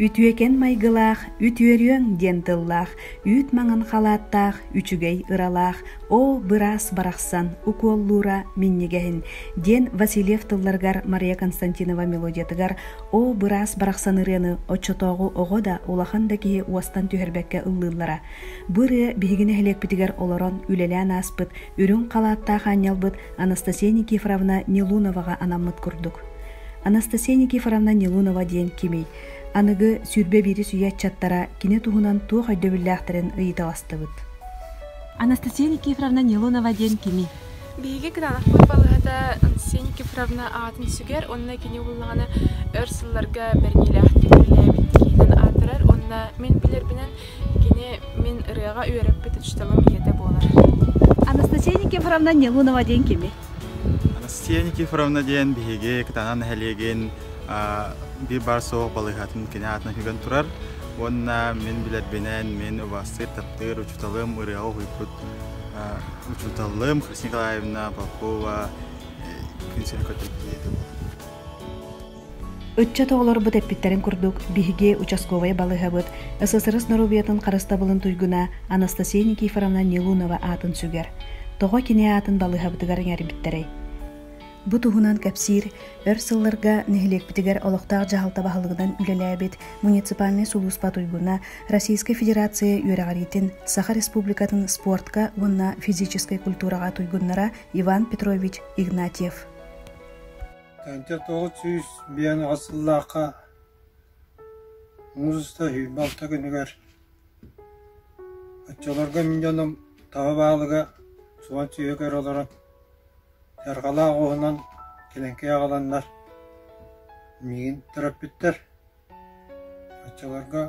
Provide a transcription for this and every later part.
Үтүөкэн майгылаах, үтүөрүөҥ диэн тыллаах, үүт маҥан халааттаах, үчүгэй ыралаах, оо быраас барахсан укуоллуура минньигэһин диэн Васильев тылларыгар Мария Константинова мелодиятыгар оо быраас барахсан ырыаны оччотооҕу оҕо да улахан да киһи уостан түһэрбэккэ ыллыыллара Бу ырыа биһиги нэһилиэкпитигэр олорон үлэлээн ааспыт үрүҥ халааттаах аанньалбыт Анастасия Никифоровна Нилуноваҕа анаммыт курдук. Анастасия Никифоровна Нилунова диэн кимий? Аныгы сүүрбэ биирис үйэ ыччаттара кини туһунан туох өйдөбүллээхтэрин ыйыталастыбыт. Анастасия Никифоровна Нилунова диэн кимий? Биһиги кыраанахпыт балыһата Ансень Кифровна аатын сүгэр уонна кини ууллаҕына өр сылларга бэриниилээхтик үлэлээбит киһинэн аатырар уонна мин билэрбинэн кини мин ырыаҕа үөрэппит учууталым ийэтэ буолар. Анастасия Никифоровна Нелунова диэн кими? Анастасия Никифоровна диэн биһиги Кытаанах нэһилиэгин биир баар суох балыыһатын кини аатынан сүгэн турар уонна мин билэрбинэн мин убаастыыр таптыыр учууталым ырыаҕа уһуйбут учууталым Николаевна Попова күн сирин көтөрдүү Ыччат оҕолорбут эппиттэрин курдук, биһиги участковай балыһабыт ССРС норуобуйатын харыстабылын туйгуна Анастасия Никифоровна Нелунова аатын сүгэр. Тоҕо кини аатын балыһабытыгар иҥэрбиттэрэй? Бу туһунан кэпсиир өр сылларга нэһилиэкпитигэр олохтоох дьаһалта баһылыгынан үлэлээбит муниципальнай сулууспа туйгуна, Российскай Федерация үөрэҕириитин Саха Республикатын спортка уонна физическэй культураҕа туйгуннара Иван Петрович Игнатьев. Тэнте тоғыз сүүс биен асыллааққа музыста хүйбалта күнүгэр Отчолорго миндьоном таба баалыга суон сүйөкөр олорон Саргылаах уоһунан кэлэҥкэй аҕаланнар миигин төрөппүттэр оччолорго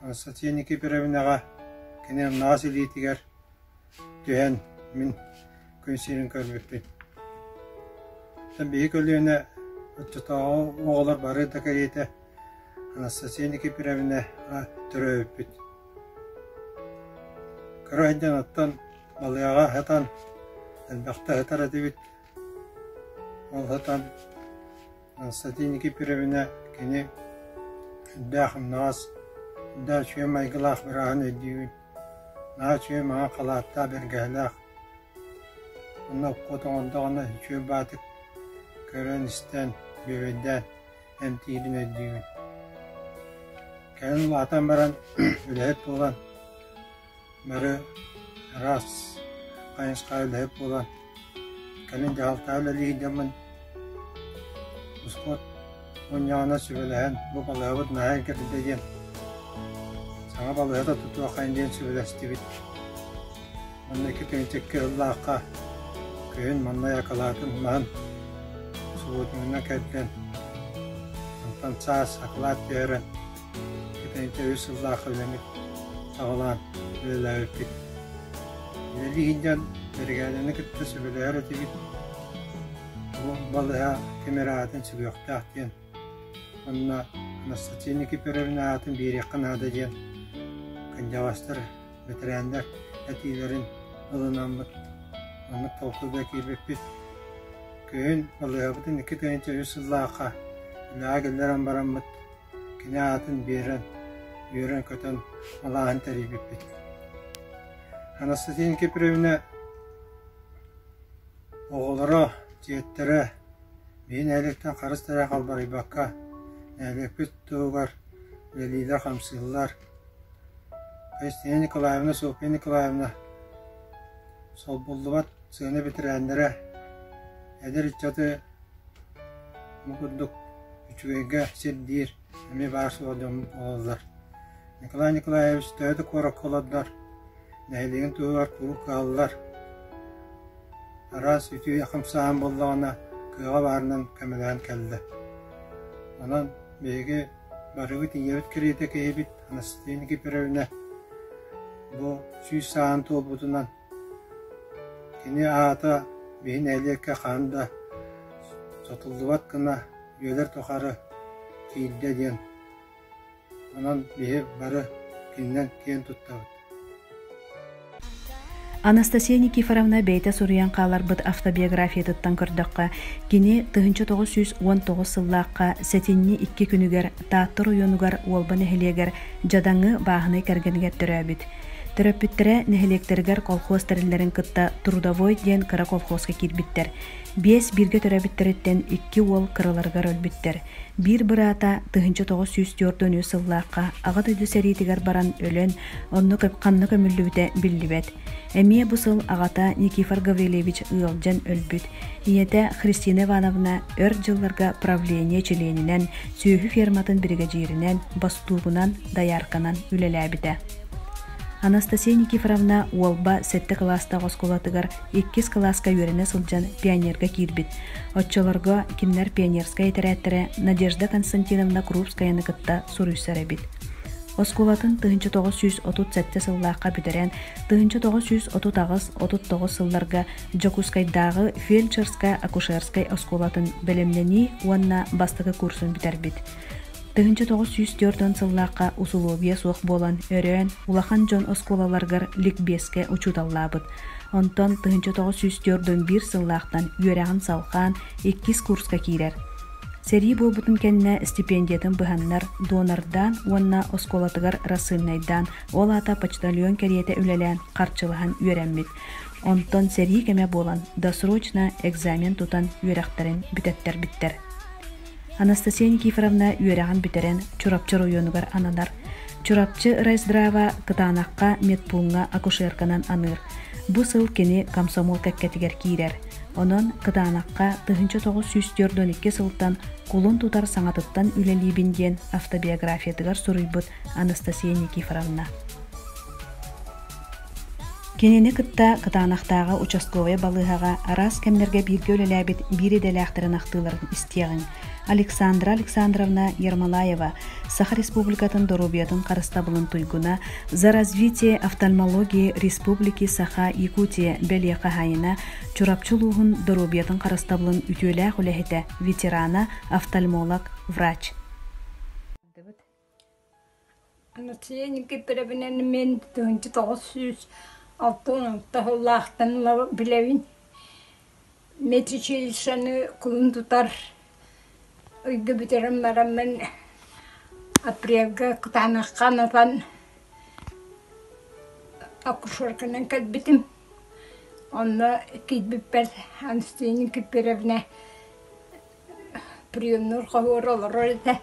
Анастасия Никифоровнаҕа кини аллаҕас илиитигэр түһэн мин күн сирин көрбүппүн оттон биһи көлүөнэ оччотооҕу оҕолор бары да кэриэтэ Анастасия Никифоровнаҕа төрөөбүппүт кыра айдан оттон Балыаҕа сытан элбэхтэ сытар этибит. Ол сытан Константиники Пиревинэ кини элбээх умнаҕас, да үчүгэй майгылаах бырааһын өйдүүбүн. Наһаа үчүгэй маҥа халааттаах бэргэһэлээх. Онно окко тоҕондоҕуна үчүгэй баатык көрөн-истэн, бүөбэйдээн эмтиирин өйдүүбүн. Кэлин улаатан баран, үлэһит буолан, Бары «Раз, хайысхаҕа үлэһит буолан, кэлин дьаһалтаҕа үлэлиһиидэммин, ускуот мунньаҕына сүбэлэһэн, бу балыыһабыт наһаа кэтитэ диэн, саҥа балыыһата тутуоххайын диэн сүбэлэстибит. Уонна икки тыһыынча икки сыллаахха күһүн маннай акылаатын маһын субуотунунан кэрдэн, онтон саас акылаат түһэрэн, Кэтэниттэ үс сыллаах үлэни саҕалаан үлэлээбиппит. Үлэлии сылдьан бэрэгээдэни кытта сөбүлэһэр этибит. Бу балыһа ким эрэ аатын сүгүөхтээх диэн уонна Анастасия Никифоровна аатын биэриэххэ наада диэн кындьаҕастар, бэтэрээннэр этиилэрин ылынаммыт. Маннык толкуй да киирбиппит. Күһүн балыһабытын икки тыһыынча үс сыллаахха үлэҕэ киллэрэн бараммыт, Кини аатын биэрэн, үөрэн-көтөн алааһын тэрийбиппит. Анастасия Киприевна оҕолоро, дьиэттэрэ биһи нэһилиэктэн харыс тайа халбарыйбакка, нэһилиэкпит туһугар үлэлиилэр, хамсыыллар. Кристина Николаевна, Софья Николаевна солбуллубат сыана бэтэрээннэрэ, эдэр ыччаты Ол курдук, үчүгэйгэ сирдиир эмиэ баар суоҕа дьоммут буолаллар. Николай Николаевич төһө да куоракка олордор, нэһилиэгин туһугар куруук кыһаллар. Араас үтүө хамсааһын буоллаҕына, кыаҕа баарынан көмөлөөн кэллэ. Онон биһиги барыбыт ийэбит кэриэтэ киһибит Анастасия Никифоровна бу сүүс сааһын туолбутунан Кини аата биһи нэһилиэккэ хаһан да сотуллубат гына үйэлэр тухары тиийдэ диэн, онон биһи бары кининэн киэн туттабыт Анастасия Никифоровна бэйэтэ суруйан хааларбыт автобиографиятыттан көрдөххө, кини тыһыынча тоҕус сүүс уон тоҕус сыллаахха сэтинньи икки күнүгэр Тааттар ойуунугар Уолба нэһилиэгэр Дьадаҥы бааһынай кэргэнигэр төрөөбүт. Төрөппүттэрэ нэһилиэктэригэр колхоз тэриллэрин кытта трудовой диэн кыра колхозка киирбиттэр. Биэс бииргэ төрөөбүттэриттэн икки уол кыраларыгар өлбүттэр. Биир быраата тыһыынча тоҕус сүүс түөрт үс сыллаахха аҕа дойду сэриитигэр баран өлөн, онно ханна көмүллүбүтэ биллибэт. Эмиэ бу сыл аҕата Никифор Гаврильевич ыалдьан өлбүт. Ийэтэ Христина Ивановна өр дьылларга правление чилиэнинэн сүөһү ферматын биригэдьииринэн, бостуобунан, доярканан үлэлээбитэ. Анастасия Никифоровна Уолба сэттэ кылаастаах оскуолатыгар иккис кылааска үөрэнэ сылдьан пионерга киирбит. Оччолорго кинилэр пионерскай этэрээттэрэ Надежда Константиновна Крупскаяны кытта суруйсар эбит. Оскуолатын тыһыынча тоҕус сүүс отут сэттэ сыллаахха бүтэрэн, тыһыынча тоҕус сүүс отут аҕыс отут тоҕус сылларга Дьокуускайдааҕы фельдшерскай-акушерскай оскуолатын бэлэмнэнии уонна бастакы курсун бүтэрбит. Тыһыынча тоҕус сүүс түөрт уон сыллаахха усулуобуйа суох буолан, өрөөн улахан дьон оскуолаларыгар ликбиэскэ учууталлаабыт. Онтон тыһыынча тоҕус сүүс түөрт уон биир сыллаахтан үөрэҕин салҕаан иккис курска киирэр. Сэрии буолбутун кэннэ стипендиятын быһаннар, донордаан уонна оскуолатыгар рассыльнайдаан, ол аата почтальон кэриэтэ үлэлээн харчылаһан үөрэммит. Онтон сэрии кэмэ буолан, досрочно экзамен тутан үөрэхтэрин бүтэртэрбиттэр. Анастасия Никифоровна үөрэҕин бүтэрэн Чурапчы оройуонугар ананар. Чурапчы райздрава кытаанахха медпууҥҥа акушерканан аныыр. Бу сыл кини комсомол кэккэтигэр киирэр. Онон кытаанахха тыһыынча тоҕус сүүс түөрт уон икки сылтан кулун тутар саҥатыттан үлэлиибин диэн автобиографиятыгар суруйбут Анастасия Никифоровна. Кинини кытта Кытаанахтааҕы участковай балыыһаҕа араас кэмнэргэ бииргэ үлэлээбит биир идэлээхтэрин ахтыыларын истиэҕиҥ. Александра Александровна Ермолаева Саха Республикатын доруобуйатын харыстабылын туйгуна «За развитие офтальмологии республики Саха Якутия» бэлиэ хаһаайына Чурапчы улууһун доруобуйатын харыстабылын үтүөлээх үлэһитэ, ветерана, офтальмолог, врач Анацияа Никифоровнаны мин тыһыынча тоҕус сүүс алта уонунча сыллаахтан ыла билэбин. Медучилищены кулун тутар ыйга бүтэрэн бараммын апрельга кытаанахха анатан акушерканан кэлбитим. Онно киирбиппэр Анастия Никифоровна приемнуур хоһуор олорор этэ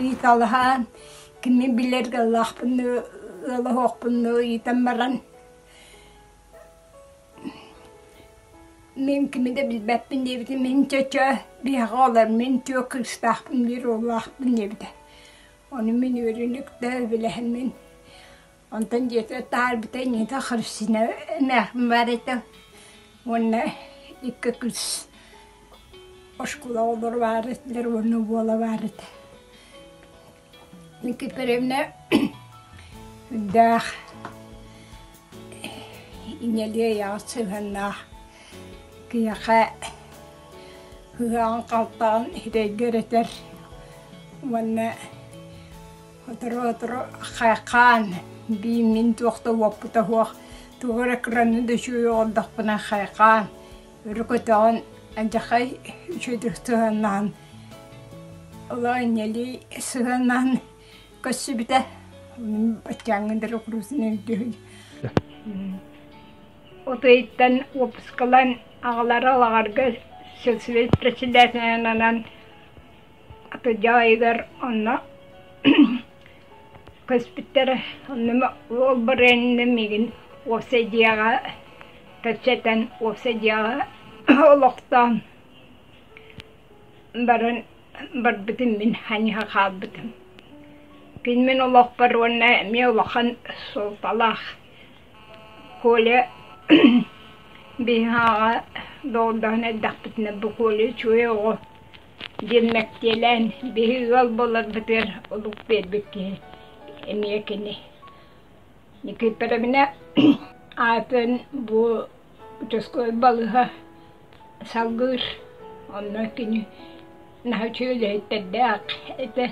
ыйыталаһан кимин билэр ыаллаахпынныы ыалаһыахпынныы ыйытан баран мин кими да билбэппин диэбитим мин чөчө биһэҕэ олор мин чуо кыыстаахпын диир уоллаахпын диэбитэ ону мин үөрүүнүктэ билэһин мин Онтон дьиэтэ таарбыта инниитэ харыссина эмээхпин баар этэ уонна икки кыыс оскуола оҕолоро баар этилэр уонна буола баар этэ. Никифоровна үрдээх, ийэлии айаҕа сыһыаннаах, киһиэхэ ыһыаҕын-халтаҕын иһирэйгэ ырытар уонна Сотору-сотору хаан биир мин туох да уоппута суох тугу эрэ кыраны да үчүгэй оҕордохпуна хайхаан өрө көтөҕөн адьахай үчүгэйдик сыһыаннаһан олох инньэлии сыһыаннаһан көрсүбүтэ баччааҥҥы дракурусина үрдүһүн утуйуттан уоппускалан аҕалара лаҕарга сельсовет председателинанан Дьаа ыйыгар онно көспүттэрэ онно уол барыанна миигин уопсай дьиэҕэ кэпсэтэн уопсай дьиэҕэ олохтоон баран барбытым мин ханьыһа хаалбытым кини мин олохпор уонна эмиэ улахан суолталаах Коля биһиэхэ доҕордоһон эрдэхпитинэ бу Коля үчүгэй оҕо диэн мэктиэлээн биһи ыал буоларбытыгар олук биэрбит киһи эмиэ кини Никииппэрэбинэ аатын бу учаской балыһа салгыыр онно кини наһачы үлэһиттэрдээх этэ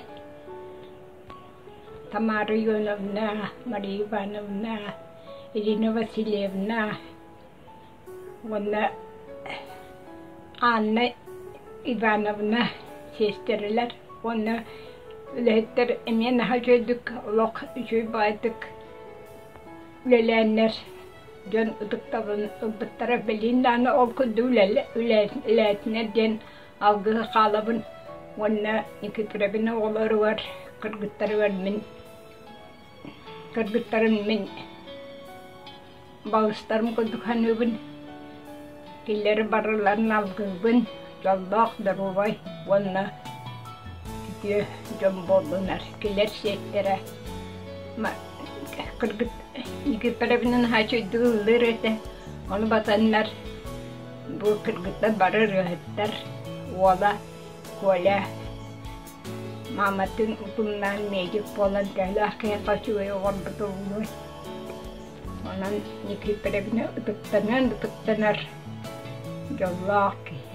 Тамара Ионовна, Мария Ивановна, Ирина Васильевна уонна Анна Ивановна сиэстэрэлэр уонна үлэһиттэр эмиэ наһаа үчүгэйдик олох үчүгэй баайдык үлэлээннэр дьон ытыктабын ылбыттара билин дааны ол курдук үлэлээтинэр диэн алгыһы хаалабын уонна Никифоровин оҕолоругар кыргыттарыгар мин кыргыттарым мин Балыстарым курдук саныыбын, киллэри барыларын алгыыбын, дьоллоох, доруобай уонна үтүө дьон буоллунар киллэр сиэттэрэ кыргыт Египетовна наһаа чуйдук ыллыыр этэ, ону батаннар бу кыргыттар бары ырыаһыттар, уола Коля Мааматтыын утумнаан медик буолан төһөлөөх киһиэхэ үчүгэй оҥорбут ууну онон Никифоровна ытыктаныан ытыктанар дьоллоох киһи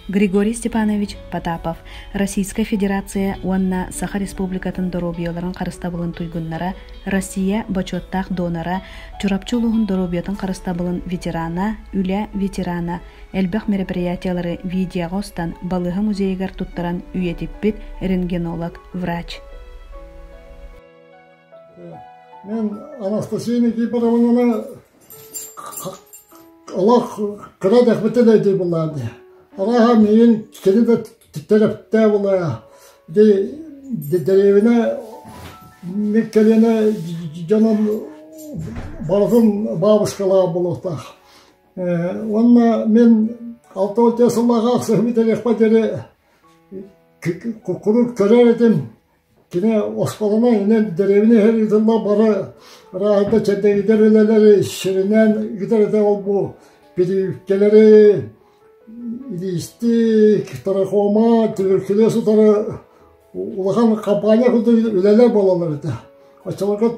Григорий Степанович Потапов Российскай Федерация уонна Саха Республикатын доруобуйаларын харыстабылын туйгуннара Россия бочуоттаах донора Чурапчы улууһун доруобуйатын харыстабылын ветерана, үлэ ветерана элбэх мероприятиелары видеоҕа устан балыыһа музейыгар туттаран үйэтиппит рентгенолог врач мен анастасия никифоровнаны олох кыра дэхбитин өйдүү булаады арааһа миин кири да тиктэрептээ булая ди деревина мик кэлине дьонун барытын бабушкалаах болуохтаах Уонна мин алта уон сыллааҕы ахсыһы бүтэриэхпэр диэри куруук көрөр этим кини оскуоланан инэн дэриэбинэ иһэр ыытылла бары арааһата чэдэгидэр үлэлэри сиринэн ыытар этэ ол-бу бириискэлэри илиистик трахома түбүркүлэ сытары улахан хампаанньа курдук үлэлэр буолаллар этэ оччолорго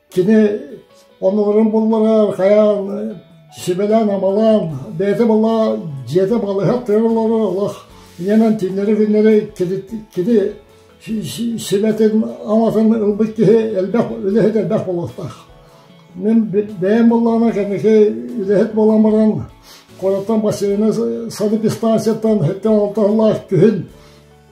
Кини оннугурун булларар хайаан сибэлээн-амалаан бэйэтэ була дьиэтэ балыһа тыаллары олох ийэнэн тиннэри-биннэри кини сибэтин аматын ылбыт киһи элбэх үлэһит элбэх буолуохтаах. Мин бэйэм буллаҕына кэнники үлэһит буолан баран Кораттан бассейна санэпистанцияттан һэттэн алта сыллаах күһүн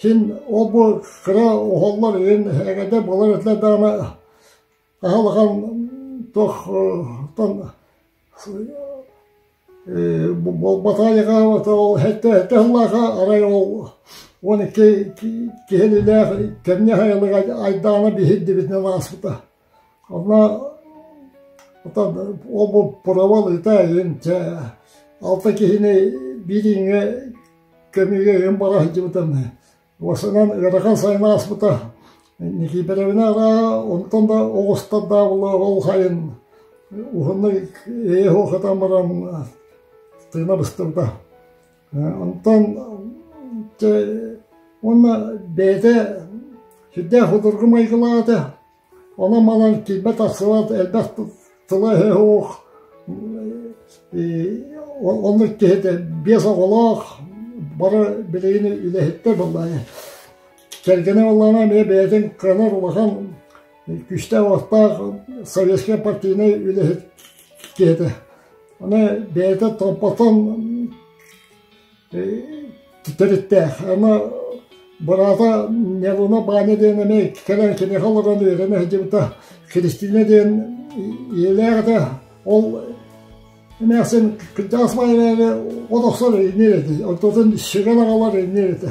Син ол-бу кыра оһоллор иһин эҕэрдэ буолар этилэр даҕаны, аһы улахан туохтан буолбатаҕа диэҕэ ол сэттэ сыллааҕа арай ол уон икки киһилээх кэмниэ айылыга айдаана биһирдибитинэн ааспыта Онно уопуппуруобал ытаайын чэ алта киһини бирииҥҥэ көмүгэ бара сылдьыбыта уосанан ыарахан сайын ааспыта Никифоровна арааһа онтон да оҕустардаабыла ол сайын уһуннук ээ-һуо хатан баран тыына быстыбыта Онтон чэ уонна бэйэтэ сүрдээх судургу майгылаах этэ. Онон-манан килбэт арсылаат элбэх тыла-өһө суох оннук киһитэ биэс оҕолоох бары билигин үлэһиттэр буоллаҕа. Кэргэнэ буоллаҕына эмиэ бэйэтин кыанар улахан күүстээх-уохтаах советскай партийнай үлэһит диэтэ. Аны бэйэтэ толботон төрүттээх. Аны быраата Нелуна Баня диэн эмэ кэлэн киниэхэ олорон үөрэнэ сылдьыбыта. Кристина диэн ийэлээх этэ. Ол эмээхсин кырдьаҕас маайын олохсор иннир этэ. Онтон сүгэн аҕалар иннир этэ.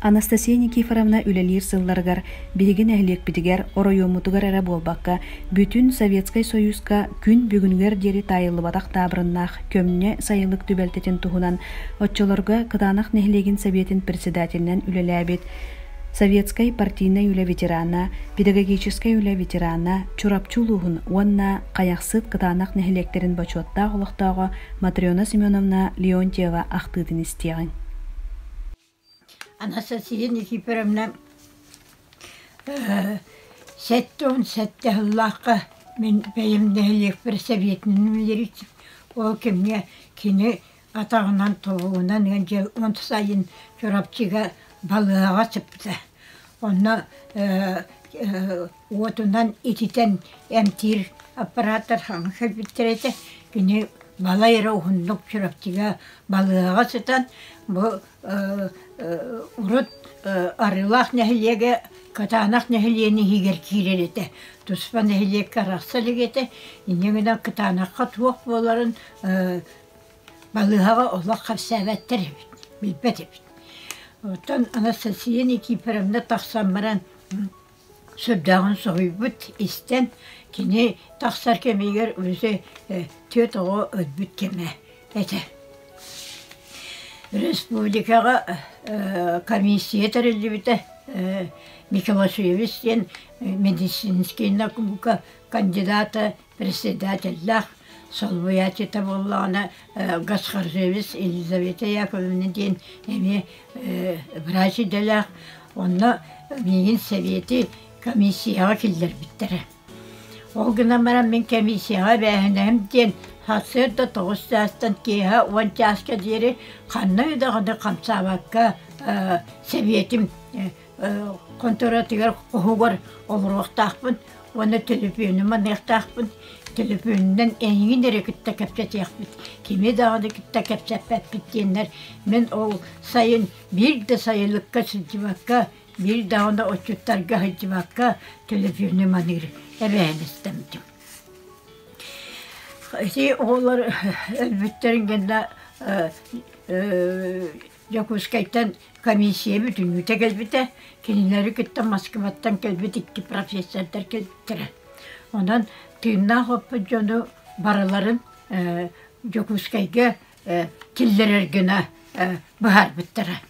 Анастасия Никифоровна үлэлиир сылларыгар биһиги нэһилиэкпитигэр, оройуоммутугар эрэ буолбакка, бүтүн Советскай Союзка күн бүгүнүгэр диэри таайыллыбатах таабырыннаах көмньө сайылык түбэлтэтин туһунан оччолорго Кытаанах нэһилиэгин Сэбиэтин председателинэн үлэлээбит советскай партийнай үлэ ветерана, педагогическай үлэ ветерана, Чурапчы улууһун уонна Хайахсыт Кытаанах нэһилиэктэрин бочуоттаах олохтооҕо Матрена Семеновна Леонтьева ахтыытын истиэҕиҥ Анастасия Никифоровна сэттэ уон сэттэ сыллаахха мин бэйэм нэһилиэкпэр сэбиэтинэн үлэлиир ол кэмҥэ кини атаҕынан тобугунан ыан дьэ он сайын Чурапчыга балыаһаҕа сыпта онно уотунан ититэн эмтиир аппарааттар саҥа кэлбиттэр этэ. Кини балай эрэ уһуннук Чурапчыга балыаҕа сытан бу урут Арыылаах нэһилиэгэ Кытаанах нэһилиэнин иһигэр киирэр этэ. Туспа нэһилиэккэ арахса илик этэ. Инньэ гынан Кытаанахха туох буоларын балыыһаҕа олох хапсээбэттэр эбит, билбэт эбит. Оттон Анастасия Никифоровна тахсан баран Сүрдээҕин соһуйбут, истэн, кини тахсар кэмигэр Өрүсэ түөрт оҕо өлбүт кэмэ этэ. Республикаҕа комиссия тэриллибитэ Микелашвилис диэн медицинский наука кандидата председателлээх солбуйааччыта буоллаҕына Гасхаржевец Елизавета Яковлевна диэн эмиэ врач идэлээх онно миигин сэбиэти комиссияҕа киллэрбиттэрэ ол гынан баран мин комиссияҕа эбээһинэһим диэн сарсыарда тоҕус чаастан киэһэ уон чааска диэри ханна да даҕаны хамсаабакка сэбиэтим Конторатыгар хоһугар олоруохтаахпын уонна төлөпүөнү маныахтаахпын. Төлөпүөнүнэн эйигин эрэ кытта кэпсэтиэхпит, кими даҕаны кытта кэпсэппэппит диэннэр мин ол сайын биир да сайылыкка сылдьыбакка, биир даҕаны отчуттарга сылдьыбакка төлөпүөнү маныыр эбээһин истэммитим. Ити оҕолор өлбүттэрин кэннэ Дьокуускайтан комиссия бүтүннүүтэ кэлбитэ, кинилэри кытта Москваттан кэлбит икки профессордар кэлбиттэрэ. Онон тыыннаах оппут дьону барыларын э, Дьокуускайга э, киллэрэргина э, быһаарбыттара.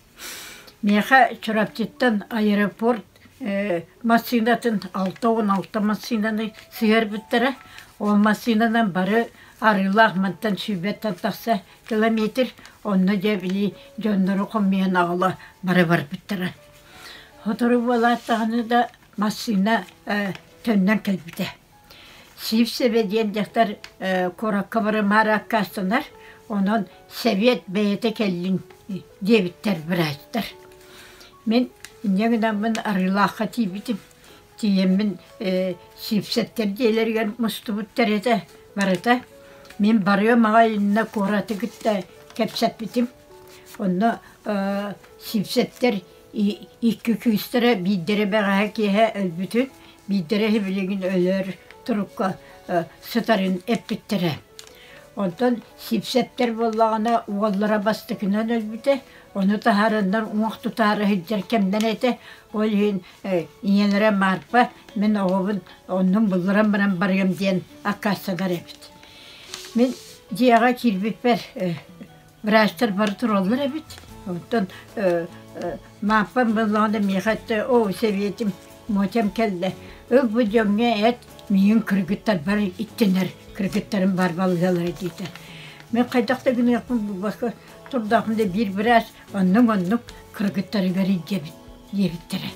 Миэхэ Чурапчыттан аэропорт э, массыынатын алта он алта массыынаны сыһарбыттара. Ол массыынанан бары арыылаах мантан сүүбэттэн тахса Километр онно дьэ били дьоннору хомуйан аҕала бара барбыттара. Сотору буолаат даҕаны да массыына э, төннөн кэлбитэ. Сивсеве диэн дьахтар э, куоракка барымаары аккаастанар, онон Сэбиэт бэйэтэ кэллин диэбиттэр быраастар. Мин инньэ гынаммын арыылаахха тиийбитим. Тиийэммин сиипсэттэр дьиэлэригэр мустубуттар этэ барыта. Мин барыам аҕай иннэ куораты кытта кэпсэппитим. Онно сиипсэттэр икки кыыстара биирдэрэ бэҕэһээ киэһэ өлбүтүн, биирдэрэ билигин өлөр турукка сытарын эппиттэрэ. Онтон сиипсэттэр буоллаҕына уоллара бастакынан өлбүтэ. Ону таһаараннар уох тутаары сылдьар кэмнэрэ этэ. Ол иһин ийэлэрэ Марфа мин оҕобун оннун булларан баран барыам диэн аккаастанар эбит. Мин дьиэҕэ киирбиппэр врачтар бары тураллар эбит. Оттон Мааппам буллаҕына миэхэ этэ оо сэбиэтим Мотям кэллэ ыл бу дьоҥҥо эт миин кыргыттарбар иттинэр кыргыттарым бар балыгалара диэтэ. Мен хайдах да гыныахпын булбакка турдаахпын да биир быраас Оннук-оннук кыргыттарыгар илдьэбит диэбиттэрэ.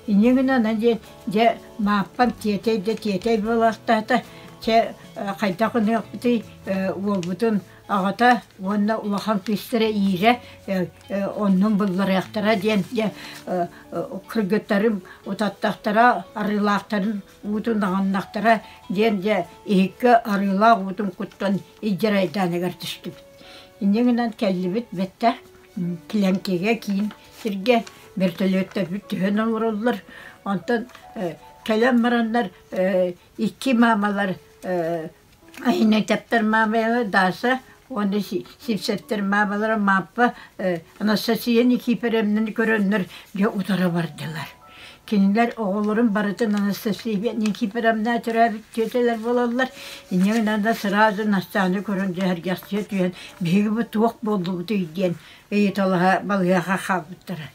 Иньэ гынан диэн, дьэ, Мааппам тиэтэй да тиэтэй буолаахтаата, чэ, хайдах гыныахпытый, уолбутун аҕата уонна улахан кыыстара иирэ оннун булларыахтара диэн дьэ кыргыттарым утаттахтара арыылаахтарын уутун аҕыннахтара диэн дьэ иһиккэ арыылаах уутун куттан илдьэрайдааныгар түстүбүт Инньэ гынан кэллибит бэттэ Клемкигэ киин сиргэ вертолеттарбыт түһэн олороллор. Онтон кэлэн бараннар икки маамалар Айнетяптар маамайла Даша уонна Сипсэттэр маамалара Мааппа Анастасия Никифоровнаны көрөннөр дьэ утара бардылар Кинилэр оҕолорун барытын Анастасия Никифоровна төрөөбүт тетелэр буолаллар. Инньэ гынан да сразу Настаны көрөн дьэһэргэхсийэ түһэн биһиги бу туох буоллубутуй диэн ыйыталаһа балыыһаҕа хаалбыттара.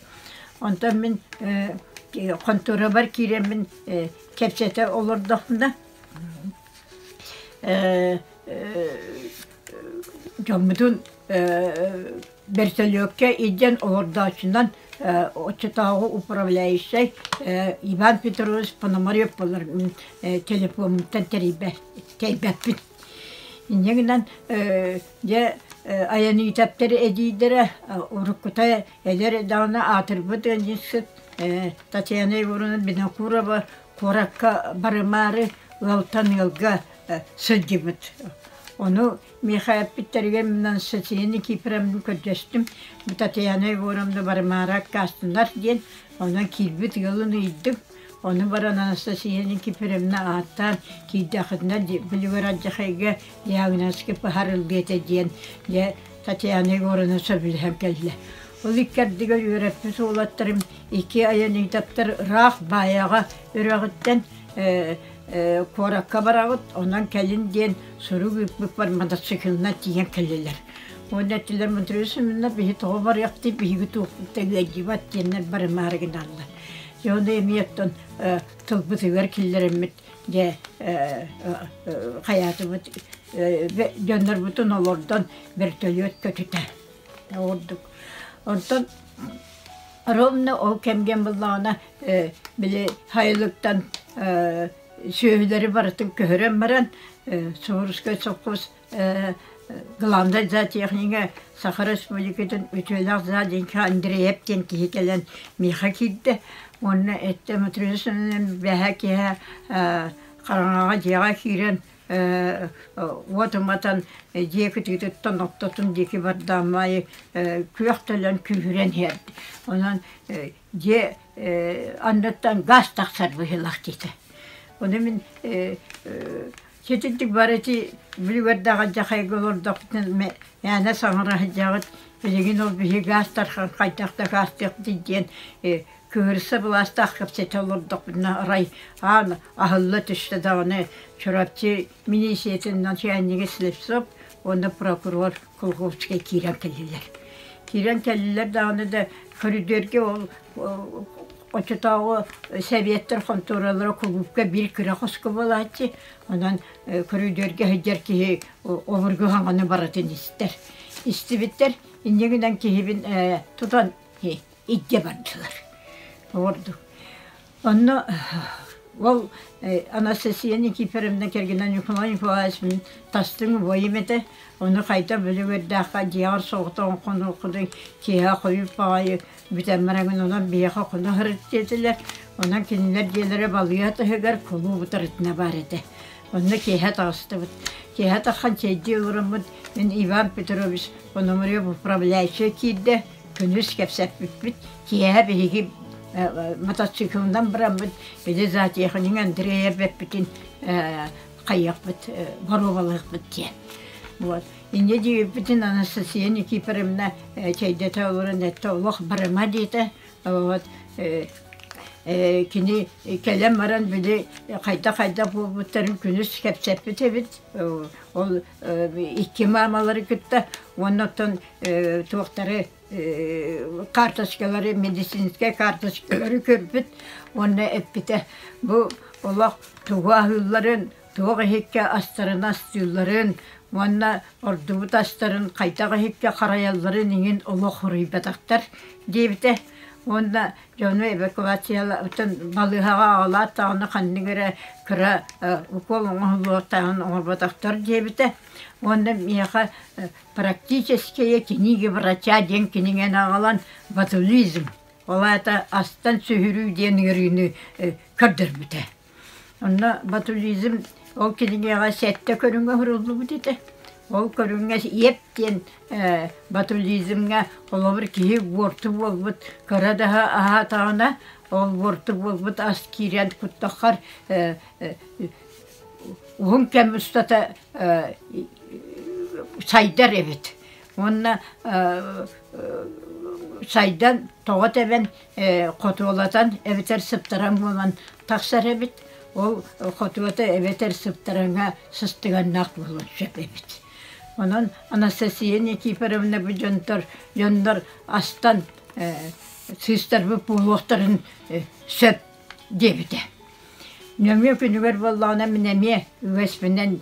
Онтон мин конторабар киирэммин кэпсэтэ олордохпуна дьоммутун Бэрсөлүөккэ илдьэн олордооччунан оччотооҕу управляющай Иван Петрович Пономарев буолар телефоммуттан тэрийбэппит. Инньэ гынан дьэ айаныытаптар эдиийдэрэ уруккута эдэр даҕаны аатырбыт ыанньыксыт Татьяна Егоровна Винокурова куоракка барымаары ыалтан ыалга сылдьыбыт. Ону Миэхэ эппиттэригэр мунан Сочини Кипремну көрдөстүм, бу Татьяна Егоровна Вармара аккаастынар диэн, онон киирбит ыалын ыйдым. Ону баран Анастасияны Кипремна ааттаан киирдэххитинэ Белигороддьахайга Диагноски пыһарыллыа этэ диэн дьэ Татьяна Егоровна сөбүлэһэн кэллэ. Ол иккэрдигэр үөрэппит уолаттарым икки айанитоптар ыраах Баайаҕа үрэҕиттэн куоракка бараҕыт, онон кэлин диэн сурук ыыппыппар мотоциклынан тиийэн кэллилэр. Уонна эттилэр Мудрия Семеновна биһи тоҕо барыахтый, биһиги туохпутта ыалдьыбат диэннэр барымаары гыналлар. Дьэ ону эмиэ оттон тылбытыгар киллэрэммит дьэ хайаатыбыт дьоннорбутун олордон вертолет көтүтэ ордук. Онтон Ромна ол кэмгэн буллаҕына э, били хайылыктан э, сүөһүлэри барытын көһөрөн баран э, Суворовскай совхоз э, главнай зоотехнига Саха Республикатын үтүөлээх зооденка Андреев диэн киһи кэлэн миэхэ киирдэ уонна этте Матвеевна бэһэ киһэ хараҥаҕа дьиэҕэ киирэн уот уматан дьиэ кытыытыттан охтотун диэки бардаан маайы күөх төлөн күүһүрэн иһэрди онон дьиэ анныттан гаас тахсар быһыылаах диэтэ ону мин ситинтик барыти билибэрдээҕи дьахайга олордохпутун мээнэ саҥара сылдьаҕыт билигин ол биһи гаас тархан хайдах да гаастыахтый диэн Кыырса былаастаах кэпсэтэ олордохпутуна, арай аан аһылла түстэ даҕаны, Чурапчы милииссийэтин начальнига Слепцов уонна прокурор Кулаковскай киирэн кэллилэр. Киирэн кэллилэр даҕаны да, көрүдүөргэ ол оччотооҕу сэбиэттэр хонтуоралара кулуупка биир кыра хоско буолааччы, онон көрүдүөргэ сылдьар киһи обургу хаҥаны барытын истэр. Истибиттэр, инньэ гынан киһибин тутан илдьэ бардылар ордук онно ол Анастасия Никифоровна кэргэнэ Ньукулай Ньукулаевич мин тастыҥ убайым этэ ону хайта били үөрдээх дьиэҕэр соҕотоҕун хонуоххутуй киэһэ хойут баҕайы бүтэммэр эҥин онон биһиэхэ хоно сырыт диэтилэр онон кинилэр дьиэлэрэ балыыһа таһыгар кулууп утарытына баар этэ онно киэһэ таҕыстыбыт киэһэ тархан чэйдии олороммут мин Иван Петрович пономареv управляющайа киирдэ күнүс кэпсэппиппит киэһэ биһиги мотоциклынан быраммыт били зоотехник Андрея эбэппитин хайыахпыт боруобалыахпыт диэн вот инньэ диэбиппитин Анастасия Никифоровна чэйдэтэ олорон эттэ олох барыма диэтэ вот кини кэлэн баран били хайда хайда буолбуттарын күнүс кэпсэппит эбит ол икки маамалары кытта уонна оттон туохтары карточкалары медицинскэй карточкалары көрбүт уонна эппитэ бу олох тугу аһыылларын туох иһиккэ астарын астыылларын уонна ордубут астарын хайдах иһиккэ харайалларын иҥин олох хоруйбатахтар диэбитэ уонна Дьону эвакуациялаытын балыыһаҕа аҕалаат даҕаны ханнык эрэ кыра укол оҥоһуллуохтааҕын оҥорботохтор диэбитэ уонна миэхэ практические книги врача диэн кинигэни аҕалан ботулизм ол аата астан сүһүрүү диэн ыарыыны көрдөрбүтэ Онно ботулизм ол кинигэҕэ сэттэ көрүҥҥэ уһуруллубут этэ. Ол көрүҥҥэ еп диэн э, ботулизмҥа холобур киһи буорту буолбут кыра даһа аһаатаҕына ол буорту буолбут ас киирэн куттаххар э, э, уһун кэм устата э, сайдар эбит. Уонна э, э, сайдан тоҕо тэбэн хотуолатан эбэтэр сыптаран буолан тахсар эбит. Ол хотуота эбэтэр сыптараҥа сыстыганнаах буолуон сөп эбит. Онон Анастасия Никифоровна бу дьонтор, дьоннор астан сыыстарбыт буолуохтарын сөп диэбитэ. Нөҥүө күнүгэр буоллаҕына мин эмиэ үгэспинэн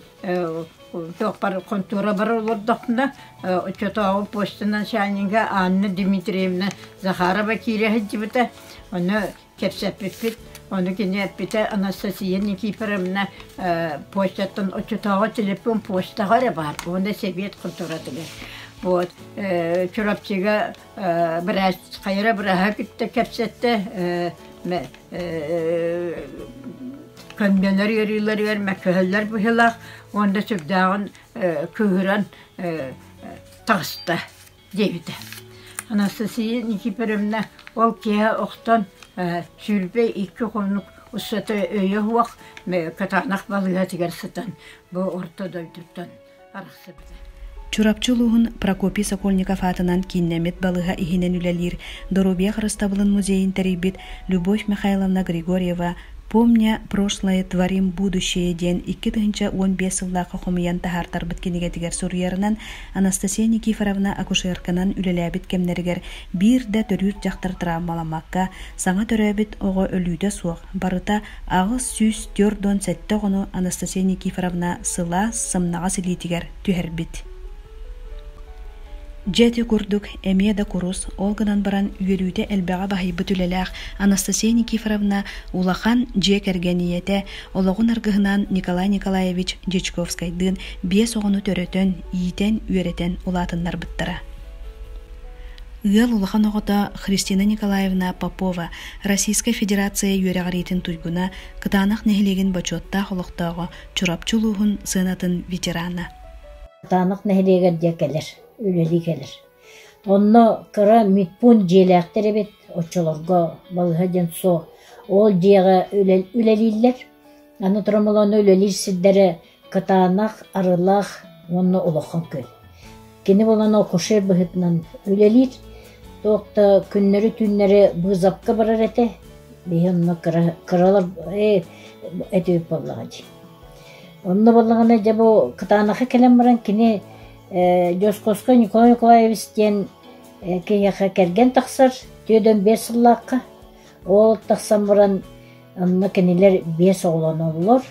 туохпар хонтуорабар олордохпуна оччотооҕу почтанан чаанньыга Анна Дмитриевна Захарова киирэ сылдьыбыта. Ону кэпсэппиппит. Ону кини эппитэ Анастасия Никифоровна почтаттан оччотооҕу телефон почтаҕа эрэ баар уонна сэбиэт хонтуоратыгар. Вот Чурапчыга Э, быраһ хайара быраһа кытта кэпсэтте э, ме э, көннөлөр ыарыыларыгар мәккөһөллөр быһылах уонда сүрдээҕин э, кыыһыран э, таҕыста диэбитэ Анастасия Никифоровна ол киһи охтон э, сүүрбэ икки хонук устата өйө уох катанах балыгатыгар сытан бу орто дойдуттан Чурапчы улууһун Прокопий Сокольников аатынан кииннэммит балыһа иһинэн үлэлиир Доруобуйа харыстабылын музейын тэрийбит Любовь Михайловна Григорьева «Помня прошлое творим будущее» диэн икки тыһыынча уон биэс сыллаахха хомуйан таһаартарбыт кинигэтигэр суруйарынан Анастасия Никифоровна акушерканан үлэлээбит кэмнэригэр биир да төрүүр дьахтар травмаламмакка саҥа төрөөбүт оҕо өлүүтэ суох барыта Аҕыс сүүс түөрт уон сэттэ оҕону Анастасия Никифоровна сылаас сымнаҕас илиитигэр түһэрбит. Дьэ ити курдук эмиэ да курус, ол гынан баран үөрүүтэ элбэҕи баһыйбыт үлэлээх Анастасия Никифоровна улахан дьиэ кэргэн ийэтэ, олоҕун аргыһынаан Николай Николаевич Дьячковскайдыын биэс оҕону төрөтөн, иитэн, үөрэтэн улаатыннарбыттара. Ыал улахан оҕото Христина Николаевна Попова Российскай Федерация үөрэҕириитин туйгуна, Кытаанах нэһилиэгин бочуоттаах олохтооҕо, Чурапчы улууһун сыанатын ветерана. Кытаанах нэһилиэгэр диэ кэлэр, үлэлии кэлэр. Онно кыра медпункт дьиэлээхтэр эбит, оччолорго балыһа диэн суох. Ол дьиэҕэ үлэлииллэр. Аны Тромолоно үлэлиир сирдэрэ Кытаанах, Арылаах уонна Улахан Күөл. Кини булан акушер быһыытынан үлэлиир. Туох да күннэри-түүннэри быызапка барар этэ. Биһи онно кыра, кыралар э, этип буоллаҕа дии. Онно боллаҕына дьэ бу кытаанахы кэлэн баран кини э, Дьоскоско Николай Николаевич диэн э, киһиэхэ кэргэн тахсар. Түөдөн биэс сыллаахха Уол тахсан баран онно кинилэр биэс оҕолоноллор.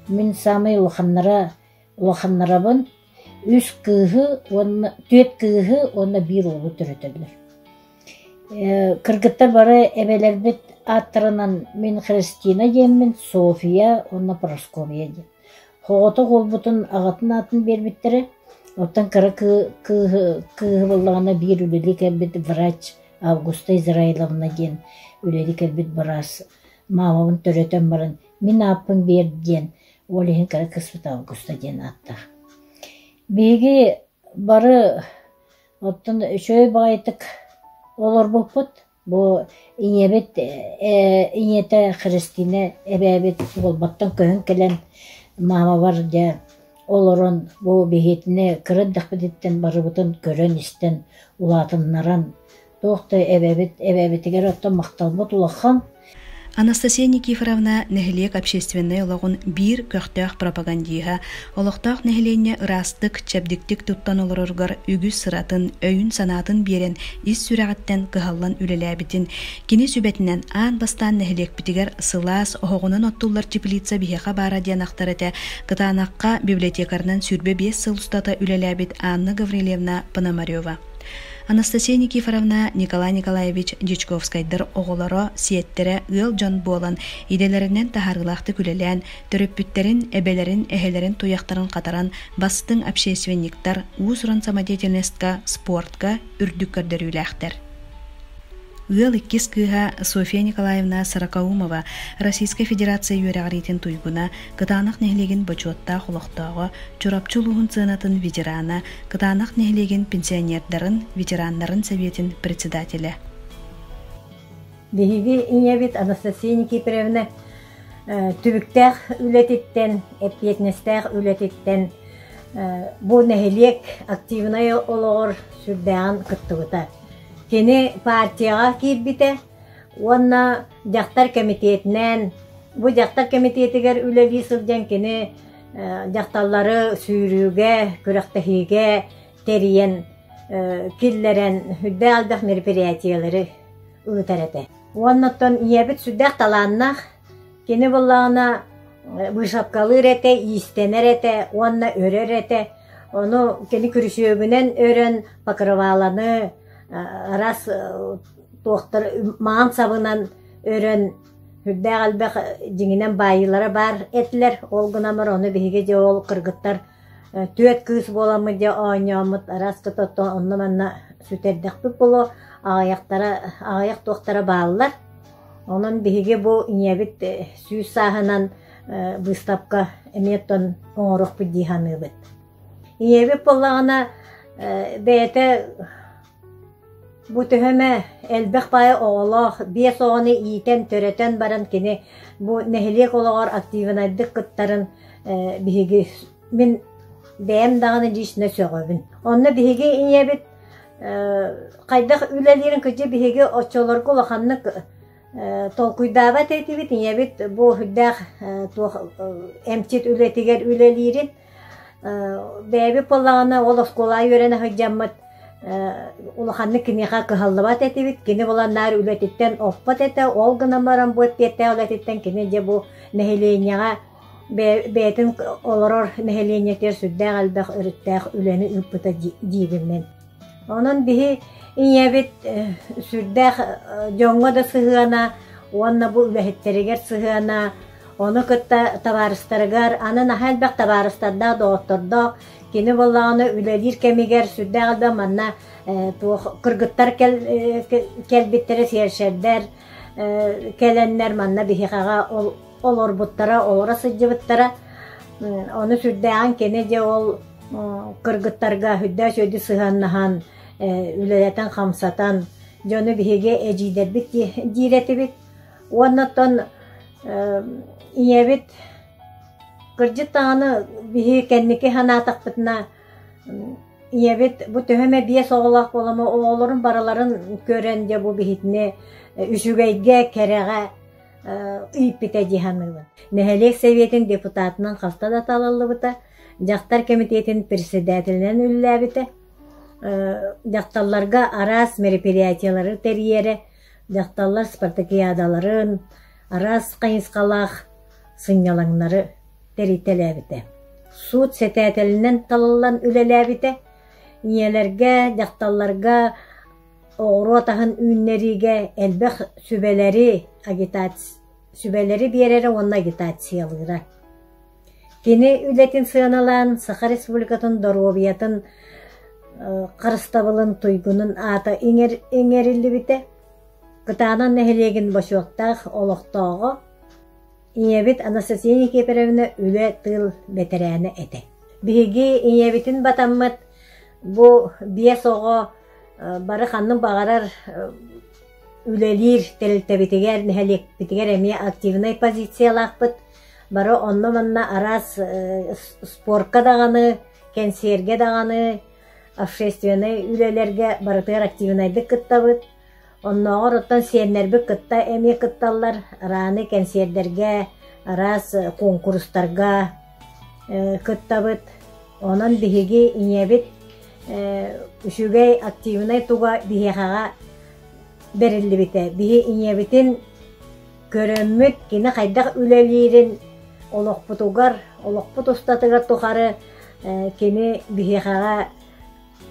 Мин саамай улаханнара улаханнарабын. Үс кыыһы уонна түөрт кыыһы уонна биир уолу төрөтөллөр. Э, кыргыттар бары эбэлэрбит ааттарынан мин Христина диэммин, София уонна Парасковия диэн. Хоҕотох уолбутун аҕатын аатын биэрбиттэрэ, оттон кыра кыыһы кыыһы буллаҕына биир үлэлии кэлбит врач Августа Израиловна диэн үлэлии кэлбит быраас маамабын төрөтөн баран «Мин ааппын биэр» диэн уол иһин кыра кыспыт Августа диэн ааттаах. Биһиги бары оттон үчүгэй баҕайытык олорбуппут Бу ийэбит ээ ийэтэ Христина эбээбит буолбаттан көһөн кэлэн маамабар дьэ олорон бу биһиэтинэ кыра эрдэхпититтэн барыбытын көрөн-истэн улаатыннаран туох да эбэбит эбээбитигэр оттон махталбыт улахан. Анастасия Никифоровна нэһилиэк общественнай олоҕун биир көхтөөх пропагандиһа, олохтоох нэһилиэнньэ ыраастык, чэбдиктик туттан олороругар үгүс сыратын, өйүн-санаатын биэрэн ис сүрэҕиттэн кыһаллан үлэлээбитин, кини сүбэтинэн аан бастаан нэһилиэкпитигэр сылаас, оһоҕунан оттуллар теплица биһиэхэ баара диэн ахтар этэ, кытаанахха библиотекарынан сүүрбэ биэс сыл устата үлэлээбит Анна Гаврильевна Пономарева. Анастасия Никифоровна, Николай Николаевич Дьячковскайдар оҕолоро, сиэттэрэ ыал дьон буолан, идэлэринэн таһаарыылаахтык үлэлээн, төрөппүттэрин, эбэлэрин, эһэлэрин туйахтарын хатаран, бастыҥ общественниктар, уус-уран самодеятельностька, спортка үрдүк көрдөрүүлээхтэр. Ыал иккис кыыһа Софья Николаевна Сорокоумова Российскай Федерация үөрэҕириитин туйгуна, Кытаанах нэһилиэгин бочуоттаах олохтооҕо, Чурапчы улууһун сыанатын ветерана, Кытаанах нэһилиэгин пенсионердарын, ветераннарын сэбиэтин председателэ. Биһиги ийэбит Анастасия Никифоровна түбүктээх үлэтиттэн, эппиэтинэстээх үлэтиттэн бу нэһилиэк активнай олоҕор сүрдээҕин кыттыбыта. Кини партияҕа киирбитэ уонна дьахтар кэмитиэтинэн бу дьахтар кэмитиэтигэр үлэлии сылдьан кини дьахталлары сүүрүүгэ, күрэхтэһиигэ тэрийэн, киллэрэн үрдээх элбэх мероприятиелары ыытар этэ. Уонна оттон ийэбит сүрдээх талааннаах, кини буллаҕына выставкалыыр этэ, иистэнэр этэ уонна өрөр этэ. Ону кини күрүсүөгүнэн өрөн покрываланы раз туохтар маан сабынан өрөн Үрдээх элбэх дьиҥинэн баайыылара баар этилэр, ол гынамар ону биһиги дьэ ол кыргыттар түөрт кыыс буоламмыт дьэ оонньооммут араас тото-то онно-манна сүтэрдэхпит буолуо, аҕыйахтара, аҕыйах туохтара бааллар. Онон биһиги бу ийэбит сүүс сааһынан быыстапка эмиэ оттон оҥоруохпут дии саныыбыт. Ийэбит буоллаҕына бэйэтэ Бу төһөм ээ, элбэх паайа оҕолоох, биэс оҕону иитэн, төрөтөн баран кини бу нэһилиэк олоҕор актыыбынайдык кыттарын э, биһиги мин бэйэм даҕаны лично сөҕөбүн. Онно биһиги ийэбит э, хайдах үлэлиирин кыдьы биһиги оччолорго улаханнык э, толкуйдаабат этибит. Ийэбит бу үрдээх э, туох э, эмчит үлэтигэр үлэлиирин Бэйэби пылаана ол оскуола үөрэнэ сылдьаммыт улаханнык киниэхэ кыһаллыбат этибит. Кини булан наар үлэтиттэн оппот этэ. Ол гынан баран бу эппиэттээх үлэтиттэн кини дьэ бу нэһилиэнньэҕэ бэйэтин олорор нэһилиэнньэтигэр сүрдээх элбэх өрүттээх үлэни ыыппыта диибин мин. Онон биһи ийэбит сүрдээх дьоҥҥо да сыһыана уонна бу үлэһиттэригэр сыһыана, ону кытта табаарыстарыгар, аны наһаа элбэх табаарыстардаах, доҕоттордоох кини буоллаҕына үлэлиир кэмигэр сүрдээх элбэх манна туох кыргыттар кэлбиттэрэ сершердэр кэлэннэр манна биһиэхэҕэ олорбуттара, олоро сылдьыбыттара. Ону сүрдээҕин кини дьэ ол кыргыттарга үрдөөч өйдү сыһыаннаһан, үлэлэтэн-хамсатан, дьону биһиги эдьиийдэрбит диир этибит. Уонна оттон ийэбит кырдьык даҕаны биһи кэнники санаатахпытына ийэбит бу төһө эмэ биэс оҕолоох буолама оҕолорун барыларын көрөн дьэ бу биһитини үчүгэйгэ кэрэҕэ ыйппитэ дии саныыбын нэһилиэк сэбиэтин депутатынан хаста да талыллыбыта Дьахтар кэмитиэтин председателинэн үлэлээбитэ. Дьахталларга араас мероприятиелары тэрийэрэ, дьахталлар спартакиадаларын, араас хайысхалаах сынньалаҥнары тэритэлээбитэ. Суут сэтээтэлинэн талыллан үлэлээбитэ. Ийэлэргэ, дьахталларга оҕуруот аһын үүннэриигэ элбэх сүбэлэри, агитаци сүбэлэри биэрэрэ уонна агитациялыыра. Кини үлэтин сыаналаан Саха Республикатын доруобуйатын харыстабылын туйгунун аата иҥэриллибитэ. Кытаанах нэһилиэгин бочуоттаах олохтооҕо, ийэбит Анастасия Никифоровна үлэ тыыл бэтэрээнэ этэ. Биһиги ийэбитин батаммыт бу биэс оҕо бары ханнык баҕарар үлэлиир тэрилтэбитигэр, нэһилиэкпитигэр эмиэ активнай позициялаахпыт. Бары онно-манна араас спорка даҕаны, кэнсиэргэ даҕаны, общественнай үлэлэргэ барытыгар активнайдык кыттабыт. Оннооҕор оттон сиэннэрбит кытта эмиэ кытталлар. Арааны кэнсиэрдэргэ, араас куонкурустарга кыттабыт. Онон биһиги ийэбит үчүгэй активнай туга биһиэхэҕэ бэриллибитэ. Биһи ийэбитин Көрөммүт кини хайдах үлэлиирин, олохпутугар, олохпут устатыгар тухары кини биһиэхэҕэ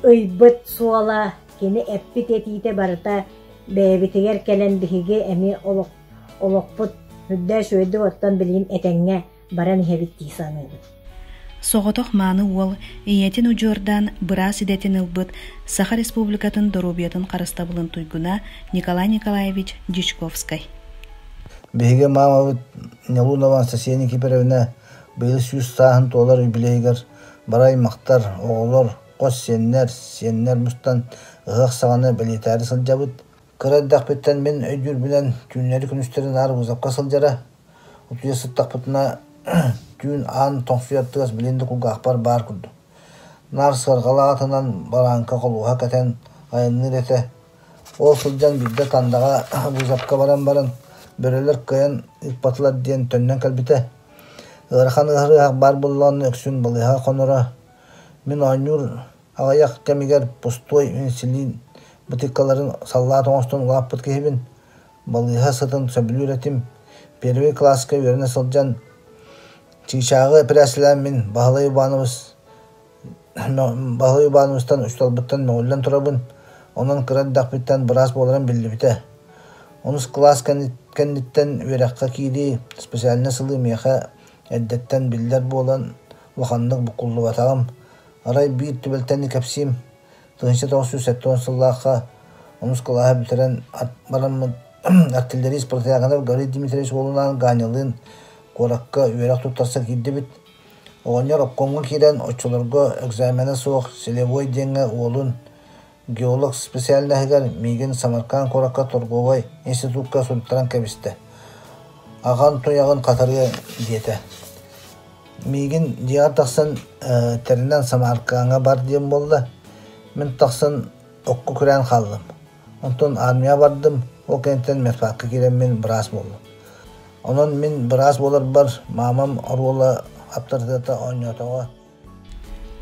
ыйбыт суола, кини эппит этиитэ барыта бэйэбитигэр кэлэн биһиги эмиэ олохпут үрдээс-үөдү оттон билигин этэҥҥэ баран иһэбит дии саныыбын соҕотох мааны уол ийэтин удьуордаан быраас идэтин ылбыт саха республикатын доруобуйатын харыстабылын туйгуна николай николаевич дьячковскай биһиги маамабыт нялунова анастасия никифоровна быйыл сүүс сааһын туолар юбилейыгар бары аймахтар оҕолор хос сиэннэр сиэннэр мустан ыһыах саҕана бэлиэтээри сылдьабыт Кыра эрдэхпиттэн мин өйдүүрбүнэн түүннэри-күнүстэри наар вызовка сылдьара, утуйа сыттахпытына түүн аан тоҥсуйар тыас билигин да кулгаахпар баар курдук. Наар сыарҕалаах атынан барааҥка холуоһа кэтэн айанныыр этэ. Ол сылдьан биирдэ Тандаҕа вызовка баран баран бөрөлөр кыайан ыыппатылар диэн төннөн кэлбитэ. Ыарахан ыаһыр ыһах баар буоллаҕына үксүн балыыһаҕа хоноро. Мин оонньуур Аҕыйах кэмигэр пустой инсулин бытыыккаларын саллаат оҥостон улааппыт киһибин. Балыыһа сытын сөбүлүүр этим. Первый кылааска үөрэнэ сылдьан чыычааҕы эпэрээссийэлээммин Баһылай Иванович Баһылай Ивановичтан усталбыттан мөҥүллэн турабын. Онон кыра эрдэхпиттэн быраас буоларым биллибитэ. Онус кылаас кэнниттэн үөрэххэ киирии, специальнай сылыы миэхэ эрдэттэн биллэр буолан, улаханнык буккуллубатаҕым. Арай биир түбэлтэни кэпсиим, тыһыынча тоҕус сүүс сэттэ сыллаахха мускулааһы бүтэрэн бараммыт артиллерист протягонов Горей Дмитриевич уолунаан Гааньалыын куоракка үөрэх туттарса киирдибит. Оҕонньор обкомҥа киирэн оччолорго экзамена суох силовой диэҥҥэ уолун Геолог специальноһыгар миигин Самарканд куоракка торговай институкка суруттаран кэбистэ, аҕам туйаҕын хатарыа диэтэ. Миигин дьиэҕэр тахсан тэринэн Самаркаҥҥа бар диэм буолла, мин тахсан окко күрээн хааллым. Онтон армияҕа бардым, ол кэнниттэн медпакка киирэммин быраас буоллум. Онон мин быраас буоларбар маамам оруола аптарытыата оонньоотоҕо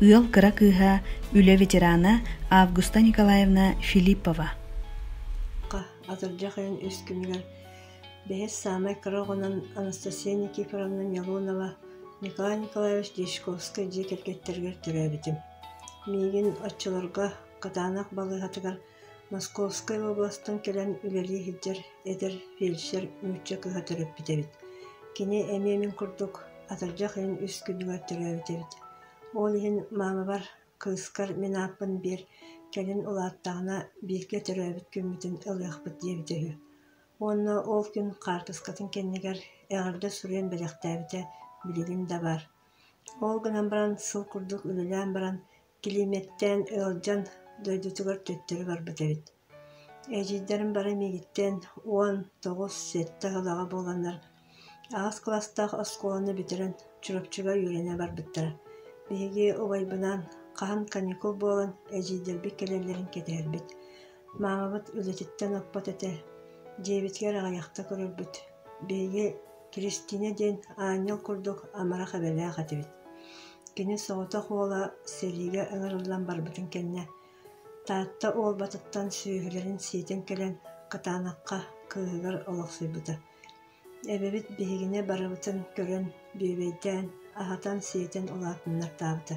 Ыал кыра кыыһа, үлэ ветерана Августа Николаевна Филиппова Атырдьах ыйын үс күнүгэр бэһис саамай кыра оҕонон Анастасия Никифоровна Милонова Николай Николаевич Дьячковскай дьиэ кэргэттэригэр төрөөбүтүм. Миигин оччолорго Катаанах балыыһатыгар Московскай уобаластан кэлэн үлэлии сылдьар эдэр фельдшер нуучча кыһа төрөппүт эбит. Кини эмиэ мин курдук атырдьах ыйын үс күнүгэр төрөөбүт эбит. Ол иһин маамабар кыыскар мин ааппын биэр, кэлин улааттаҕына бииргэ төрөөбүт күммүтүн ылыахпыт диэбитэ үһү. Уонна ол күн хаартыскатын кэннигэр эҕэрдэ суруйан бэлэхтээбитэ билигин да баар. Ол гынан баран сыл курдук үлэлээн баран Килиимэттээн ыалдьан дойдутугар төттөрү барбыт эбит. Эдьиийдэрим бары миигиттэн уон тоҕус сэттэ ыһылаҕа буоланнар аҕыс кылаастаах оскуоланы бүтэрэн Чурапчыга үөрэнэ барбыттара. Биһиги убайбынаан хаһан каникул буолан эдьиийдэрбит кэлэллэрин кэтэһэрбит. Маамабыт үлэтиттэн оппот этэ, дьиэбитигэр аҕыйахта көрөрбүт, биһиги Кристина диэн аанньал курдук амарах эбэлээх этибит. Кини соҕотох уола сэриигэ ыҥырыллан барбытын кэннэ, Таатта Уолбатыттан сүөһүлэрин сиэтэн кэлэн, кытаанахха кыыһыгар олохсуйбута. Эбэбит биһигини барыбытын көрөн, бүөбэйдээн, аһатан-сиэтэн улаатыннартаабыта.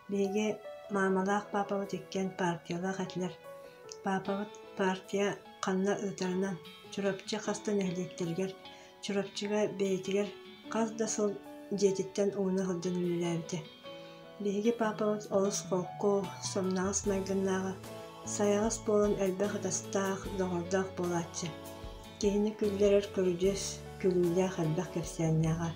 Биһиги маамалаах паапабыт иккиэн партиялаах этилэр. Паапабыт партия ханна ыытарынан Чурапчы хаста нэһилиэктэригэр, Чурапчыга бэйэтигэр хас да сыл дьиэтиттэн ууну сылдьан үлэлээбитэ. Биһиги паапабыт олус холку, сомнаҕас майгыннааҕа, сайаҕас буолан элбэх ытастаах, доҕордоох буолааччы. Киһини күүллэрэр көрүдьүөс күүҥҥүлээх элбэх кэпсээннээҕэ.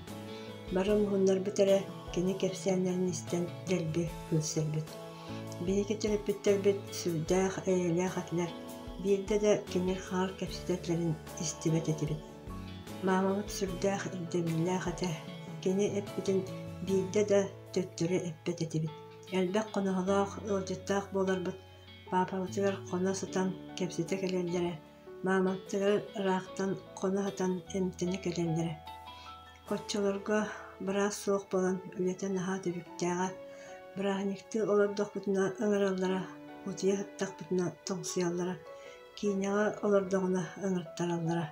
Бары муһуннарбыт эрэ, кини кэпсээннээн истэн дэлби күлсэрбит. Биһиги төрөппүттэрбит сүрдээх эйэлээх этилэр, биирдэ да кимир-хаҕар кэпсэтэллэрин истибэт этибит. Маамабыт сүрдээх ирдэбиллээх этэ, кини эппитин биирдэ да төттөрү эппэт этибит. Элбэх хоноһолоох, ыалдьыттаах буоларбыт, паапабытыгар хоно сытан кэпсэтэ кэлэллэрэ Маамаптара ыраахтан хоно сытан эмтэнэ кэлэллэрэ. Оччолорго быраас суох буолан үлэтэ наһаа түбүктээҕэ. Бырааһынньыктыы олордохпутуна ыҥыраллара, утуйа сыттахпытына тоҥсуйаллара, киинэҕэ олордоҕуна ыҥыртараллара.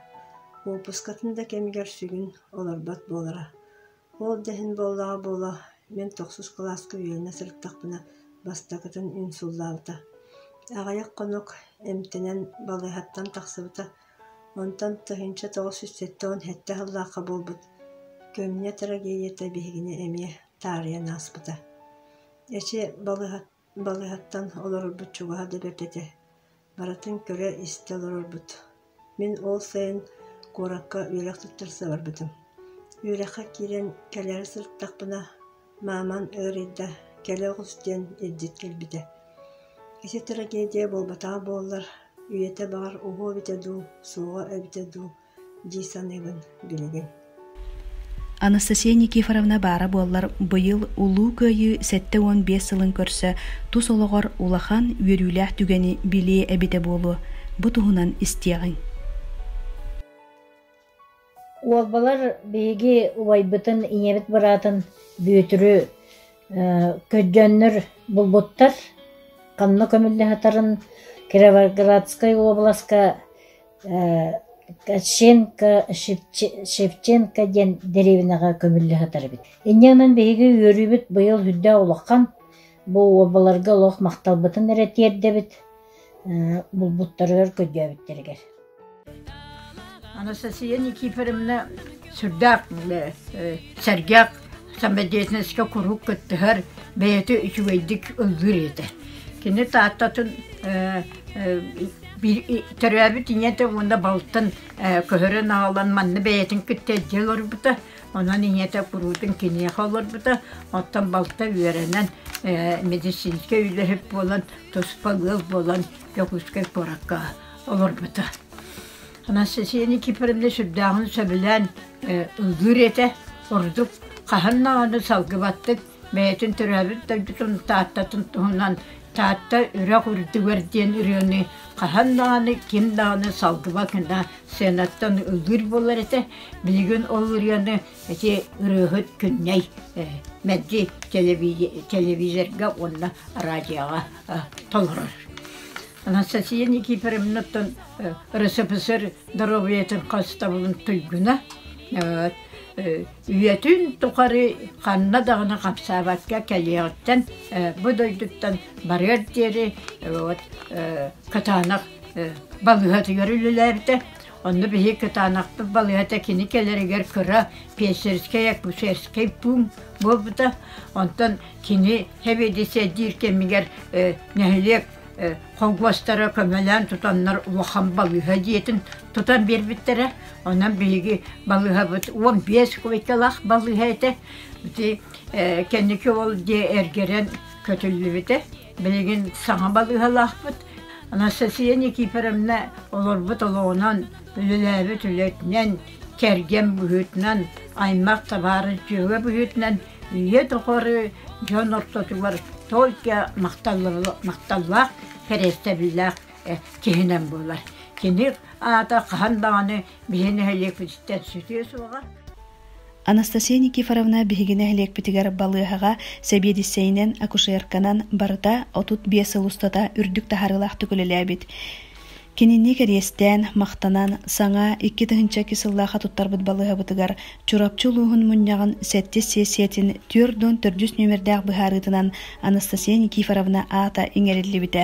Уоппускатын да кэмигэр сүгүн олорбот буолара. Уол да иһин буоллаҕа буолуо, мин тохсус кылааска үөрэнэ сырыттахпына бастакытын инсуллаабыта. Аҕыйах хонук эмтэнэн балыыһаттан тахсыбыта, онтон тыһыынча тоҕус сүүс сэттэ уон сэттэ сыллаахха буолбут көмүнэ трагедията биһигини эмиэ таарыйан ааспыта. Эчи, балыыһаттан Балыыһаттан олорорбут чугаһа да бэрт этэ, барытын көрө-истэ олорорбут. Мин ол сайын куоракка үөрэх туттарса барбытым. Үөрэххэ киирэн кэлээри сырыттахпына, мааман ыарыйда, кэлэ оҕус диэн илдьит кэлбитэ. Ити трагедия буолбатаҕа буоллар, үйэтэ баҕар уһуо эбитэ дуу, суоҕа эбитэ дуу дии саныыбын билигин Анастасия Никифоровна баара буоллар быйыл Улуу Кыайыы сэттэ уон биэс сылын көрсө тус олоҕор улахан үөрүүлээх түгэни билиэ эбитэ буолуо бу туһунан истиэҕиҥ Уолбалар биһиги убайбытын, ийэбит быраатын Бүөтүрү көдьөннөр булбуттар. Ханна көмүллэ сытарын Кировоградскай уобаласка Ковченко, Шевченко диэн дэриэбинэҕэ көмүллэ сытар эбит. Инньэ гынан биһиги үөрүүбүт быйыл үрдээх улахан. Бу уобаларга олох махталбытын эрэ тиэрдэбит булбуттарыгар көрдөөбүттэригэр. Анастасия Никифоровна сүрдээх сэргэх Самодеятельноска куруук кыттыһар, бэйэтэ үчүгэйдик ыллыыр этэ. Кини Тааттатын төрөөбүт ийэтэ уонна балтын көһөрөн аҕалан манна бэйэтин кытта эрдэ олорбута. Онон ийэтэ куруутун киниэхэ олорбута. Оттон балта үөрэнэн медицинскэй үлэһит буолан, туспа ыал буолан Дьокуускай куоракка олорбута. Анастасия Никифоровна сүрдээҕин сөбүлээн ыллыыр этэ. Ордук хаһан даҕаны салгыбаттык бэйэтин төрөөбүт дойдутун Тааттатын туһунан Таатта үрэх үрдүгэр диэн ырыаны хаһан даҕаны ким даҕаны салгыбат гына сценаттан ыллыыр буолар этэ. Билигин ол ырыаны ити ырыаһыт күннэй мэлдьи телевизорга уонна радиоҕа толорор. Анастасия Никифоровнаттан Ресепсэр доруобуйатын хостабылын туйгуна, үйэтин тухары ханна даҕаны хапсаабакка кэлиэҕиттэн бу дойдуттан барыар диэри кытаанах балыыһатыгар үлэлээбитэ. Онно биһиги кытаанахпыт балыыһата кини кэлэригэр кыра пессерскэй акушерскай пуун буолбута. Онтон кини сэбиэдиссэйдиир кэмигэр нэһилиэк хонгуостары көмөлөөн тутаннар улахан балыыһа дьиэтин тутан биэрбиттэрэ. Онон биһиги балыыһабыт уон биэс кубикалаах балыыһа этэ. Ити кэнники ол дьиэ эргэрэн көтүллүбүтэ. Билигин саҥа балыыһалаахпыт. Анастасия Никифоровна олорбут олоҕунан, үлэлээбит үлэтинэн, кэргэн быһыытынан, аймах табаарыс дьыала быһыытынан ийэ тухары дьон ортотугар только махталлаах кэриэстэбиллээх киһинэн буолар. Кини аата хаһан даҕаны биһи нэһилиэкпититтэн сүтүө суоҕа. Анастасия Никифоровна биһиги нэһилиэкпитигэр балыаһаҕа сэбиэдиссэйинэн, акушерканан барыта отут биэс сыл устата үрдүк таһарыылаахтык үлэлээбит. Кинини кэриэстээн, махтанан, саҥа, икки тыһыынча икки сыллаахха туттарбыт балыыһабытыгар Чурапчы улууһун мунньаҕын сэттис сиэссийэтин түөрт уон төрдүс нүөмэрдээх быһаарыытынан Анастасия Никифоровна аата иҥэриллибитэ.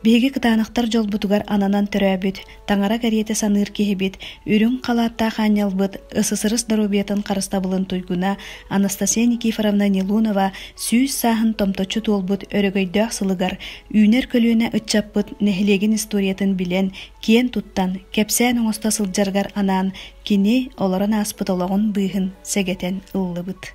Биһиги кытаанахтар дьолбутугар ананан төрөөбүт, таҥара кэриэтэ саныыр киһибит, үрүҥ халааттаах аанньалбыт, ысысырыс доруобуйатын харыстабылын туйгуна Анастасия Никифоровна Нилунова сүүс сааһын томточчу туолбут өрөгөйдөөх сылыгар Үүнэр көлүөнэ ыччаппыт нэһилиэгин историятын билэн, киэн туттан, кэпсээн оҥосто сылдьаргар анаан кини олорон ааспыт олоҕун быыһын сэгэтэн ыллыбыт.